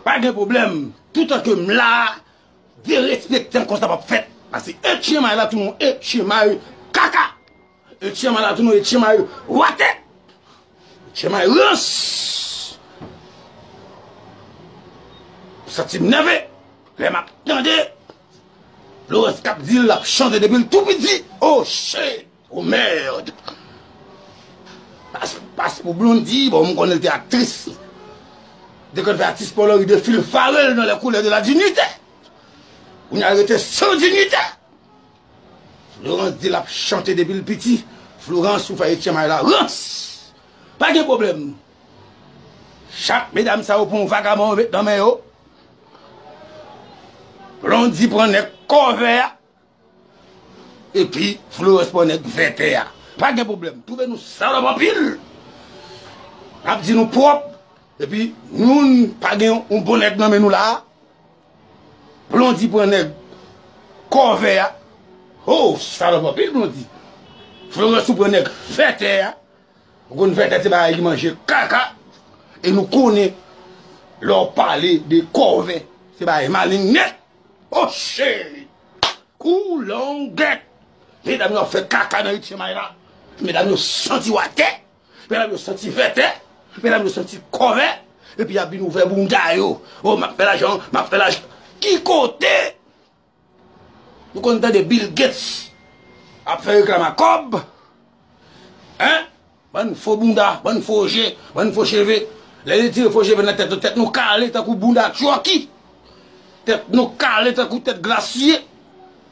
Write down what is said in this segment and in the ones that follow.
Pa gen pwoblèm, toutan ke m la, derespekte m konsa pa p fèt. Pase etchemay la tou nou etchemay kaka. E chema la tou non e chema yo wate chema yo rans m santi m nève lè map tande Lawrence kap di l lap chante depi l tou piti oh shit oh merd pas pas pou Blondie bon m konnen l te aktris de kòn fè atis polo ri de fil fare l nan les couleurs de la dignité kounya l rete sans dignité Florence di lap chante depil piti Florence ou fè etienne may la rans pa gen problem chak medam sa yo pran yon vagabon yo met nan men yo Blondie pran nèg kòve a epi Florence pran nèg vètè a pa gen problem twouve nou salòp anpil nap di nou pwòp epi nou pa gen yon bon nèg nan men nou la. Blondy pran nèg kòve a. Hoo ou salòp anpil Blondy. Florence ou pran nèg vètè a. Ou konn vètè se bagay ki manje kaka. E nou konnen lè ou pale de kòve se bagay maleng nèt. O cheri. Koulongèt. Medam yo ap fè kaka nan 8 e may la. Medam yo santi ou atè. Medam yo santi vètè, medam yo santi kòve, epi yap vin ouvè bounda yo. O, map fè lajan, map fè lajan. Ki kote nou konn tande Bill Gates ap fè reklam a kòb? Hein? Bann fo bounda, bann fo je, bann fo cheve. Lè yo tire fo cheve nan tèt nou, tèt nou kale tankou bounda Chucky. Tèt nou kale tankou tèt Gracie.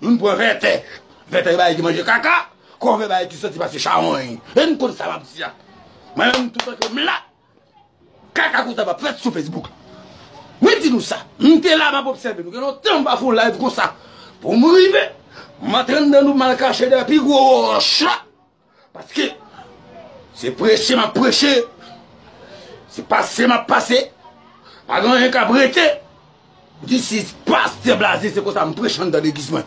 Moun pran vètè, vètè bagay ki manje kaka, kòve bagay ki santi pase chawony. E n konn sa m ap di a. Mwen menm toutan ke m la, kaka konsa pa fèt sou Facebook. Mwen di nou sa, m te la m ap obsève nou. Gen lontan m pa fè yon live konsa. Pou m rive, m antre anndan nou mal kache dèyè pi gwo wòch la. Paske, se preche m ap preche, se pase m ap pase, pa gen anyen k ap rete. This is Pasteur Blaze, se konsa m preche anndan legliz mwen.